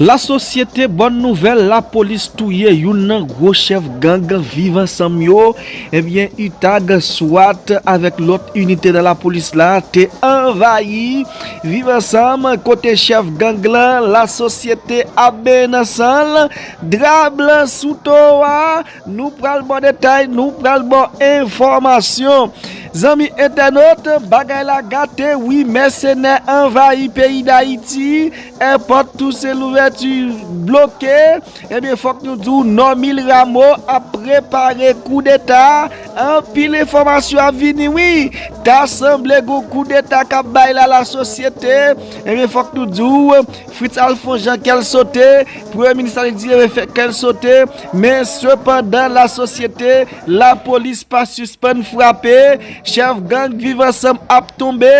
La sosyete bòn nouvèl lapolis touye youn nan gwo chèf gang viv ansanm yo ebyen utag, swat avèk lòt inite nan lapolis la te anvayi viv ansanm kote chèf gang lan la sosyete ap benyen nan san l. Drap blan sou towo a, nou pral baw detay, nou pral baw enfòmasyon. Zanmi entènot, bagay la gate wi mèsenè anvayi peyi dayiti, èpòt Tousen Louvèti bloke, ebyen fòk nou diw Nòmil Ramo ap prepare koudeta, anpil enfòmasyon ap vini wi, ta sanble gon koudeta kap bay la lasosyete, ebyen fòk nou diw. Fritz Alphonse Jean kè l sote, premye minis la li di yo fè kè l sote, men sepandan la sosyete, la polis pa sispann frape, chèf gang viv ansanm ap tonbe,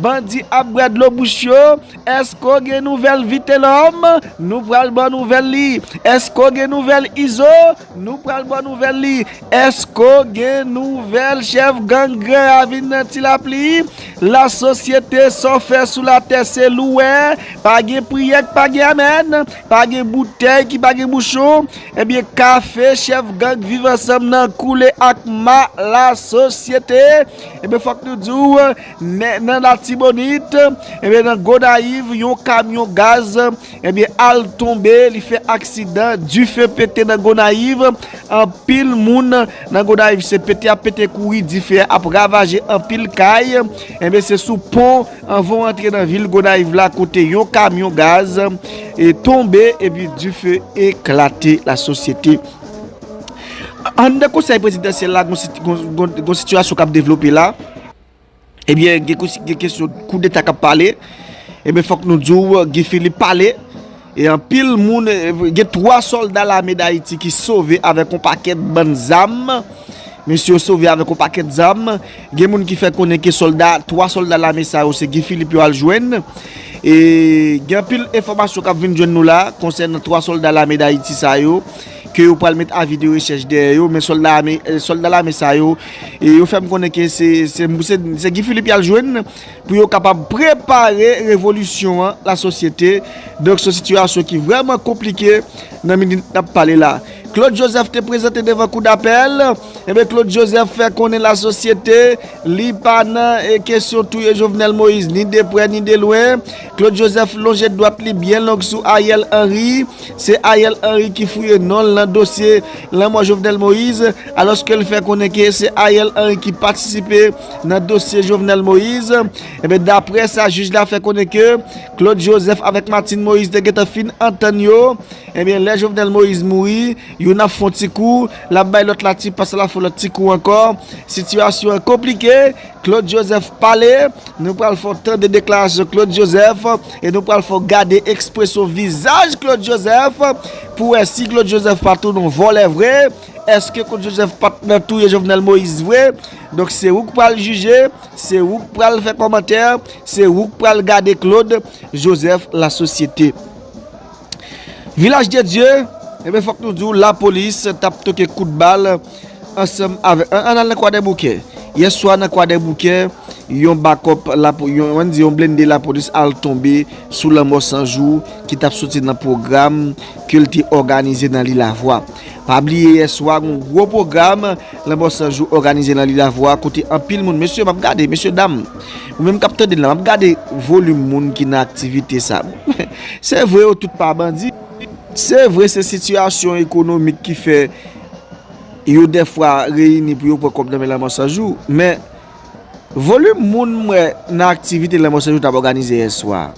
bandi ap bwè dlo bouch yo, èske w gen nouvèl Vitelhomme? Nou pral ba w nouvèl li, èske w gen nouvèl Izo? Nou pral baw nouvèl li. Èske w gen nouvèl chèf gang Gran Ravin nan Ti Lapli? Lasosyete sa w fè sou latè se louwe, pa gen priyè k pa gen amèn, pa gen boutèy ki pa gen bouchon, ebyen kafe chèf gang Viv Ansanm nan koule ak ma lasosyete, ebyen fòk nou di w nan Latibonit, ebyen nan Gonayiv yon kamyon gaz. Ebyen al tonbe li fè aksidan dife pete nan Gonayiv anpil moun nan Gonayiv se pete ap pete kouri dife ap ravaje anpil kay ebyen se sou pon anvan w antre nan vil Gonayiv la kote yon kamyon gaz tonbe epi dife eklate la sosyete Anndan konsèy prezidansyèl la gon sitiyasyon kap devlope la. Ebyen gen kous gen kesyon kou deta kap pale Ebyen fòk nou di w Guy Philippe pale E anpil moun gen 3 sòlda lame dayiti ki sove avèk yon pakèt bann zam Mesye yo sove avèk yon pakèt zam Gen moun ki fè konnen ke sòlda 3 sòlda lame sa yo se Guy Philippe yo al jwenn E gen anpil enfòmasyon kap vin jwenn nou la konsènan 3 sòlda lame dayiti sa yo ke yo pral met avi de rechèch dèyè yo, men sòlda ame, sòlda lame sa yo, yo fè m konnen ke se, se, se Guy Philippe y al jwenn, pou yo kapab prepare revolisyon an, la sosyete, donk son sitiyasyon ki vrèman konplike, nan minit n ap pale la. Claude Joseph te prezante devan kou dapèl, enben Claude Joseph fè konnen la sosyete, li pa nan kesyon touye Jovenel Moïse, ni de prè ni de lwen, Claude Joseph lonje dwat li byen long sou Ariel Henry, Se Ariel Henry ki fouye non l nan dosye lanmò Jovenel Moïse, alòske l fè konnen ke se Ariel Henry ki patisipe nan dosye Jovenel Moïse. Enben, daprè sa jij la fè konnen ke Claude Joseph avèk Martine Moïse te gentan fin antann yo, enben lè Jovenel Moïse mouri, youn ap fè yon ti kou, l ap bay lòt la ti pa sa l ap fè lòt ti kou ankò. Sitiyasyon an konplike. Claude Joseph pale, nou pral fè w tande deklarasyon Claude Joseph e nou pral fè w gade ekspresyon vizaj Claude Joseph pou wè si Claude Joseph pa tou non vòlè vre, eske Claude Joseph pa t nan touye Jovenel Moïse vre, donk se ou k pral jije, se ou k pral fè kòmantè, se ou k pral gade Claude Joseph la sosyete. Vilaj de Dye, ebe fòk nou di w la polis t ap toke kout bal ansanm avè, an an al nan kwa dè boukè. Yè swa nan kwa dè boukè, yon bakòp la pou, yon an di yon blende la polis al tonbe sou lanmò san jou ki t ap soti nan pwogram ke l te òganize nan Lilavwa. Pa bliye yè swa gon gwo pwogram lanmò san jou òganize nan Lilavwa kote anpil moun, mesye m ap gade, mesye dam, nou menm k ap tande m la, m ap gade volim moun ki nan aktivite sa. Se vre yo tout pa bandi, se vre se sitiyasyon ekonomik ki fè yo defwa reyini pou yo pran kòb nan men Lanmò 100 jou, men volim moun m wè nan aktivite Lanmò 100 jou t ap òganize yè swa.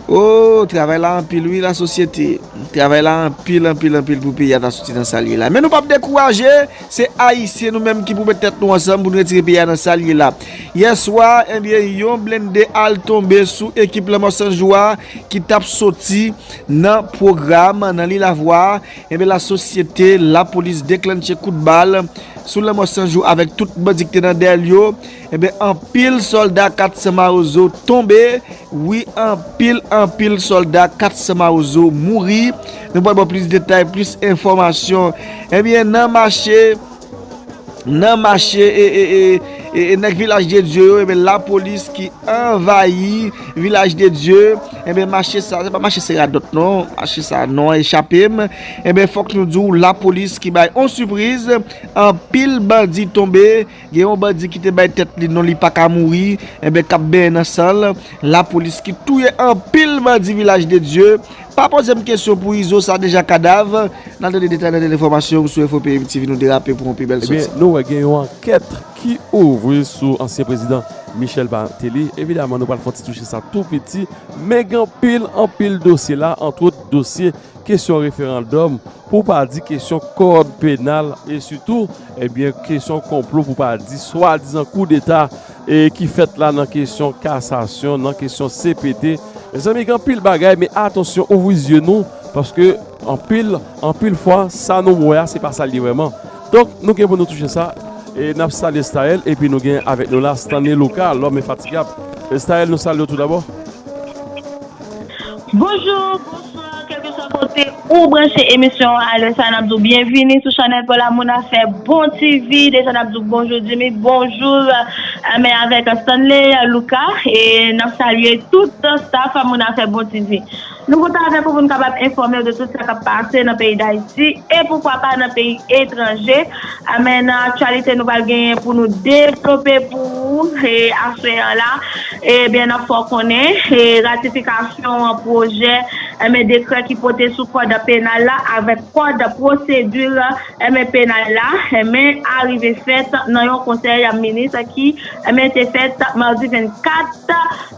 Ooh travay la anpil wi la sosyete, travay la anpil anpil anpil pou peyi a ta soti nan sa l ye la. Men nou p ap dekouraje! Se ayisyen nou menm ki pou met tèt nou ansanm pou n retire peyi a nan sa l ye la. Yè swa, ebyen yon blennde al tonbe sou ekip lanmò san jou a ki t ap soti nan pwogram nan Lilavwa a, ebyen lasosyete lapolis deklannche kout bal sou lanmò san jou avèk tout bandi ki te nan dèyè l yo. Ebyen anpil solda 400 mawozo tonbe wi anpil anpil solda 400 mawozo mouri nou pwal baw plis detay plis enfomasyon ebyen nan mache nan mache ee nèg vilaj de Dye yo ebyen la polis ki anvayi vilaj de Dye ebyen mache sa se pa mache se radot non mache sa non echapem ebyen fok nou diw la polis ki bay on sipriz anpil bandi tonbe. Gen yon bandi ki te bay tèt li non li pa ka mouri, enben k ap benyen nan san l, lapolis ki touye anpil bandi Vilaj de Dye, pa poze m kesyon pou Izo sa deja kadav, n al tande detay nan dènye enfòmasyon m sou Enfo Peyim TV nou derape pou yon pi bèl soti. Ebyen nou wè gen yon ankèt ki ouvri sou ansyen prezidan Michel Martelly, evidaman nou pral fè yon ti touche sa tou piti, men gen anpil anpil dosye la antwot dosye kesyon referandòm Pou pa di kesyon kòd penal e sitou ebyen kesyon konplo pou pa di swadizan koudeta e ki fèt la nan kesyon kasasyon, nan kesyon cpt. Mezanmi gen anpil bagay men atansyon ouvri zye nou paske anpil anpil fwa sa nou wè a se pa sa l ye vrèman. Donk nou gen pou nou touche sa e n ap salye Staël epi nou gen avèk nou la Stanley Luca, L'homme infatigable. Staël nou salye w toudabò. Bonjou, bonswa, kelkeswa kote ou branche emisyon an alè sa nap diw byenvini sou chanèl Paul Amoun afè bon TV deja nap diw bonjou Jimmy bonjou men avèk Stanley Luca e nap salye tout staff Amoun afè bon TV nou kontan avèk ou pou nou kapab enfòmew de tout sa kap pase nan peyi Dayiti e poukwa pa nan peyi etranje Amèn nan aktyalite nou pral genyen pou nou devlope pou ou aswè an la ebyen nap fè w konnen ratifikasyon pwojè ebyen dekrè ki pote sou kòd penal la avèk kòd pwosedi ebyen penal la ebyen arive fèt nan yon konsèy minis ki ebyen te fèt madi 24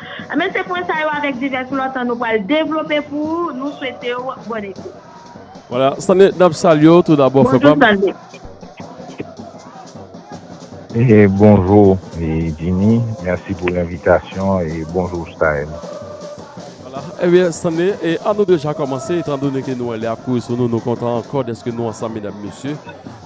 Enben se pwen sa yo avèk divès lòt an nou pral devlope pou ou, nou swete w bòn ekout. Wala Stanley nap salye w tou dabò frè pa m. Bonjou Stanley. Bonjour Jimmy, merci pou envitasyon e bonjour Staël. Wala enben Stanley e an nou deja kòmanse etan done ke nou wè lè ap kouri sou nou, nou kontan ankò dèske nou ansanm medam mesye.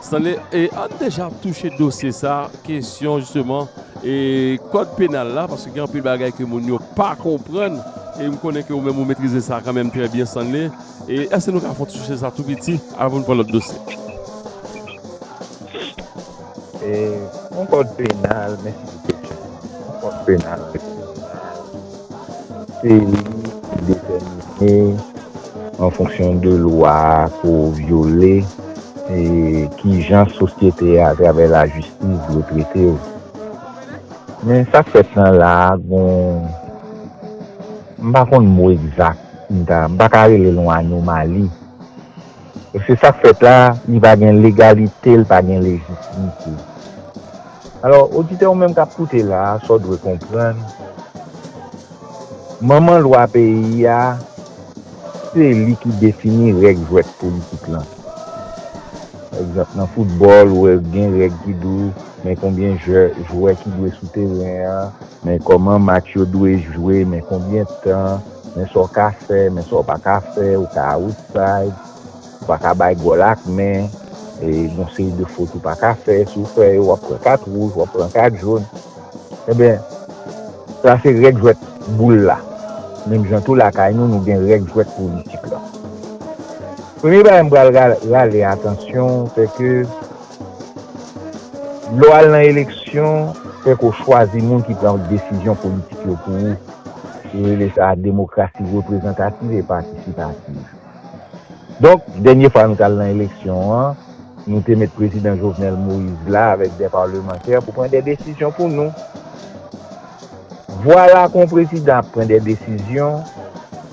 Stanley e an nou deja touche dosye sa kesyon jisteman. E kòd penal la, paske gen anpil bagay ke moun yo pa konprann, e m konnen ke ou menm ou metrize sa kanmenm trè byen Stanley, e èske nou ka fon ti touche sa tou piti avan nou pran lòt dosye? E yon kòd penal, mèsi pou kesyon an, yon kòd penal. Peyi ki detèmine an fonksyon de lwa ke w vyole e kijan sosyete a atravè lajistis dwe trete w. Men sa k fèt nan la a gon, m pa konn mo egzak, m ta, m pa ka rele l yon anomali. Mesye sak fèt la li pa gen legalite li pa gen lejitimite alò oditè ou menm kap koute la sa w dwe konprann manman lwa peyi a se li ki defini règ jwèt politik lan pa egzanp nan foutbòl ou wè gen règ ki di w men konbyen jwè ki dwe sou teren an Men kòman match yo dwe jwe, men konbyen tan, men sa w ka fè, men sa w pa ka fè, ou ka outside, ou pa ka bay gòl ak men, e gon seri de fot ou pa ka fè, si w fè yo w ap pran kat wouj, w ap pran kat jòn. Enben, sa se règ jwèt boul la. Menm jan tou lakay nou, nou gen règ jwèt politik la. Premye bagay m pral rale atansyon, sè ke. Lè w al nan eleksyon, fèk ou chwazi moun ki pran desizyon politik yo pou ou. Yo rele sa demokrasi reprezantativ e patisipativ. Donk, dènye fwa nou t al nan eleksyon an, nou te met prezidan Jovenel Moïse la avèk 2 palemantè pou pran 2 desizyon pou nou. Vwala kon prezidan ap pran 2 desizyon,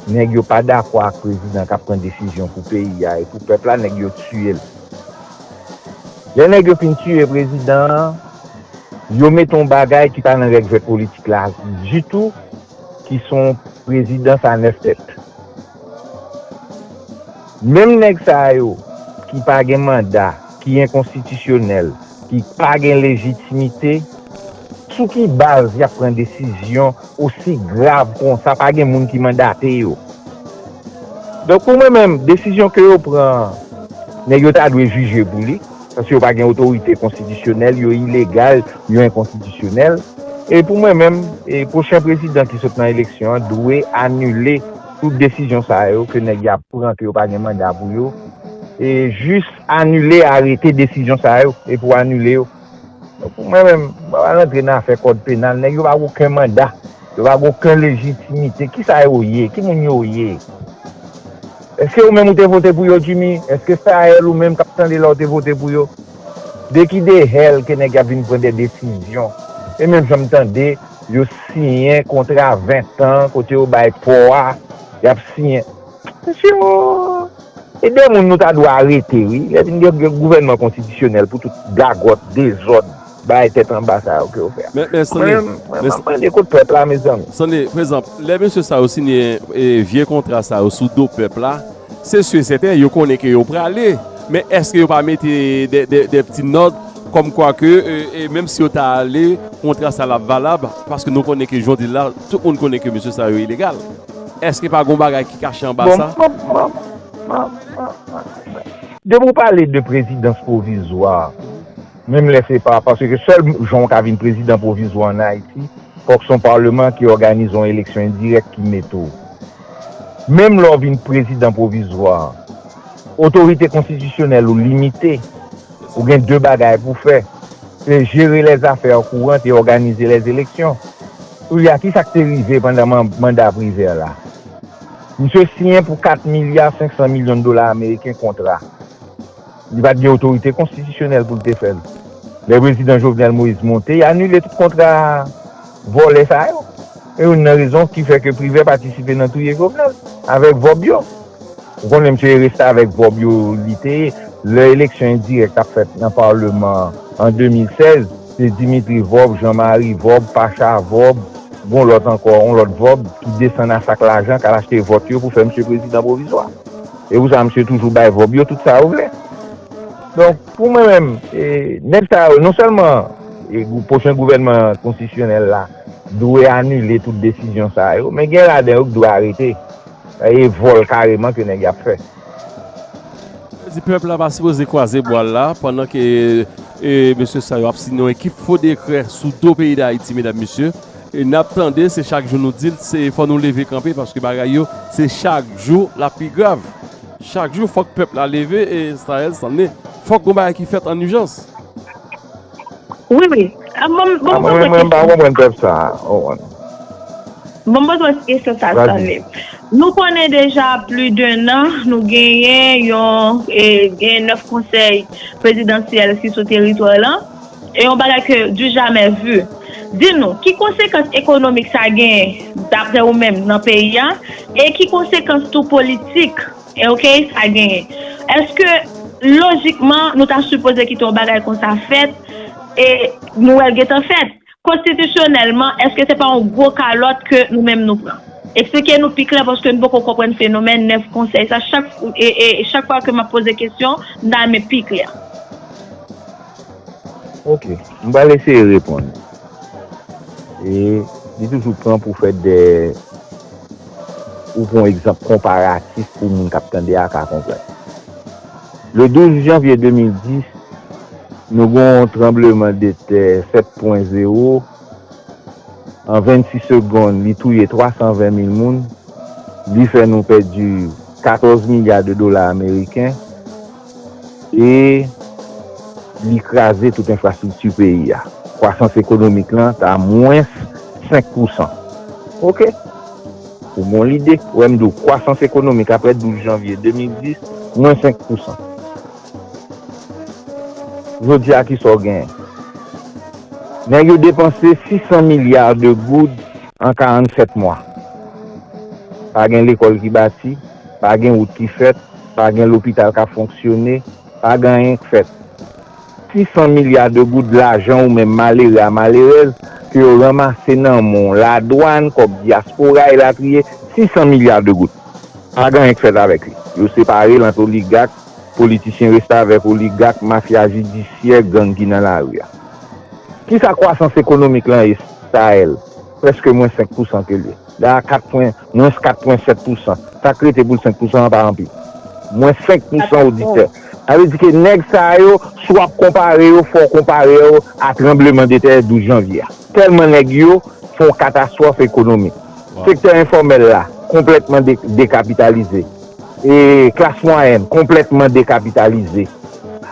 nèg yo pa dakò ak prezidan k ap pran desizyon pou peyi a e pou pèp la, nèg yo tiye l. Lè nèg yo fin tiye prezidan an, yo mete yon bagay ki pa nan règ jwèt politik la ditou, ki se yon prezidans a 9 tèt. Menm nèg sa yo ki pa gen manda, ki enkonstitisyonèl, ki pa gen lejitimite, Sou ki baz yap pran desizyon osi grav konsa pa gen moun ki mandate yo. Donk pou mwen menm desizyon ke yo pran an nèg yo ta dwe jije pou li paske yo pa gen otorite konstitisyonèl yo ilegal yo enkonstitisyonèl e pou mwen menm pwochen prezidan ki sot nan eleksyon an dwe anile tout desizyon sa yo ke nèg ya pran ke yo pa gen manda pou yo e jis anile arete desizyon sa yo e pou anile yo. Pou mwen menm, mwen pa rantre nan afè kòd penal. Nèg yo pa gen oken manda. Yo pa gen oken lejitimite. Kisa yo ye? Ki moun yo ye? Eske ou menm ou te vote pou yo, Jimmy? Eske Sahel ou menm k ap tande la ou te vote pou yo? De ki dehèl ke nèg y ap vin pran de desizyon? E menm jan m tande, yo siyen kontra ventan kote yo bay pò a, y ap siyen. Mesye yo e de moun nou ta dwe arete wi lè vin gen gouvènman konstitisyonèl pou tout gagòt, dezòd, bagay tèt anba sa yo ke yo fè a. Mwen map mande kot pèp la mezanmi. Sonde, pa egzanp, lè mesye sa yo siyen vye kontra sa yo sou do pèp la, se si e sèten yo konnen ke yo prale, men èske yo pa mete de pti nòt kòm kwa ke menm si yo ta ale kontra sa la ap valab paske nou konnen ke jodi la tout moun konnen ke mesye sa yo ilegal. Eske pa gon bagay ki kache anba sa? Depi ou pale de prezidans pwovizwa, menm lè se pa, paske sèl jan ou ka vin prezidan pwovizwa an Ayiti, fòk se yon palman ki òganize yon eleksyon endirèk ki mete ou. Menm lè ou vin prezidan pwovizwa, otorite konstitisyonèl ou limite, ou gen 2 bagay pou fè, se jere lèzafè kourant e òganize lèzeleksyon. Koulye a, ki sa k te rive pandan manda Privert la? Misye siyen pou 4 milya 500 milyon dola ameriken kontra li pa t gen otorite konstitisyonèl pou l te fè l. Lè prezidan Jovenel Moïse monte, y anile tout kontra vòlè sa yo. Se youn nan rezon ki fè ke Privert patisipe nan touye Jovenel avèk vòb yo. Ou konnen misye e restavèk vòb yo li te ye lè eleksyon endirèk t ap fèt nan palman an 2016. Se Dimitri Vorbe, Jean Marie Vorbe, Pacha Vorbe, gon lòt ankò, yon lòt Vorbe, ki desann a sak lajan k al achte vòt yo pou fè misye prezidan pwovizwa. Se pou sa misye toujou bay Vorbe yo tout sa yo vle. Donk, pou mwen menm, nèg sa yo, non sèlman pwochen gouvènman konstitisyonèl la dwe anile tout desizyon sa yo, men gen ladan yo ki dwe arete. E vòl kareman ke nèg y ap fè. Yo di pèp la pa sipoze kwaze bwa l la pandan ke mesye sa yo ap siyen yon ekip fo dekrè sou do peyi Dayiti medam mesye. E n ap tande se chak jou nou di l se fò nou leve kanpe paske bagay yo se chak jou l ap pi grav. Chak jou fòk pèp la leve e sa el sanne fòk yon bagay ki fèt an ijans. Wi wi, bon m poze kesyon. Bon m poze kesyon sa Stanley. Nou konnen deja pli den nan nou genyen yon gen 9 konsèy prezidansyèl ki sou teritwa lan. E yon bagay ke du jamè vu. Di nou, ki konsekans ekonomik sa genyen dapre ou menm nan peyi a? E ki konsekans tou politik? Ok sa genyen. Eske lojikman nou ta sipoze kite yon bagay konsa fèt e nou wèl gentan fèt? Konstitisyonèlman eske se pa yon gwo kalòt ke nou menm nou pran? Eksplike nou pi klè paske nou poko konprann fenomèn 9 konsèy sa chak chak fwa ke map poze kesyon m ta renmen pi klè. Ok m pral eseye reponn. E li toujou pran pou fè de ou pran egzanp konparatif pou moun k ap tande a ka konprann. Le 12 janvye 2010, nou gen yon tranbleman de tè 7 pwen zewo, an 26 segonn li touye 320 mil moun, li fè nou pèdi 14 milya de dola ameriken, E li kraze tout enfrastrikti peyi a. Kwasans ekonomik lan ta mwens 5 pousan. Ok! Ou gon lide? Wè m di w, kwasans ekonomik aprè 12 janvye 2010, mwens 5 pousan. Jodi a kisa w genyen? Nèg yo depanse 600 milya de goud an 47 mwa. Pa gen lekòl ki bati, pa gen wout ki fèt. Pa gen lopital k ap fonksyone, pa gen anyen k fèt. Si 100 milya de goud lajan ou menm malere a malerèz ke yo ranmase nan men w, ladwann, kòb dyaspora, elatriye, si 100 milya de goud, pa gen anyen k fèt avèk li. Yo separe l ant oligak, politisyen restavèk, oligak, mafya jidisyè, gang ki nan lari a. Kisa kwasans ekonomik lan ye? Sahel, prèske mwen 5 pousan ke l ye. Dayè a 4 pwen. Mwens 4 pwen 7 pousan. Sak rete pou l 5 pousan an pa anpil. Mwens 5 pousan oditè. Sa vle di ke nèg sa yo, si w ap konpare yo, fò w konpare yo a tranbleman de tè 12 janvye a. Tèlman nèg yo fè yon katastwòf ekonomik. Sektè enfòmèl la konplètman dekapitalize. E klas mwayèn konplètman dekapitalize.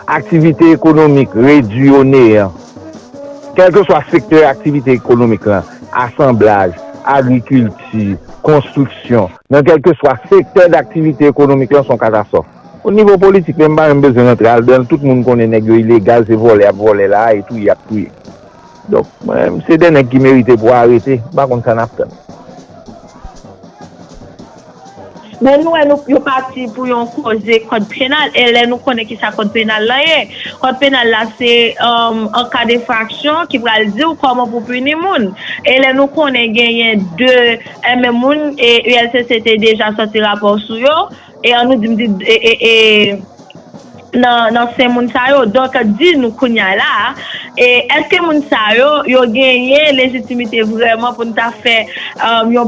Aktivite ekonomik redwi o neyan. Kèlkeswa sektè aktivite ekonomik lan, asanblaj, agrikilti, konstriksyon, nan kèlkeswa sektè daktivite ekonomik lan se yon katastwòf. O nivo politik menm m pa menm bezwen rantre aldan l, tout moun konnen nèg yo ilegal, se vòlè y ap vòlè la a e touye y ap touye. Donk mwen menm se de nèg ki merite pou arete, m pa konn sa n ap tann. Bon nou wè nou yo pati pou yon koze kòd penal e lè nou konnen kisa kòd penal lan ye. Kòd penal la se an ka defraksyon ki pral diw kòman pou pini moun. E lè nou konnen genyen 2 enben moun e ULCC te deja sòti rapò sou yo e an nou di m di e nan sen moun sa yo donk di nou kounya la a e èske moun sa yo yo genyen lejitimite vrèman pou n ta fè yon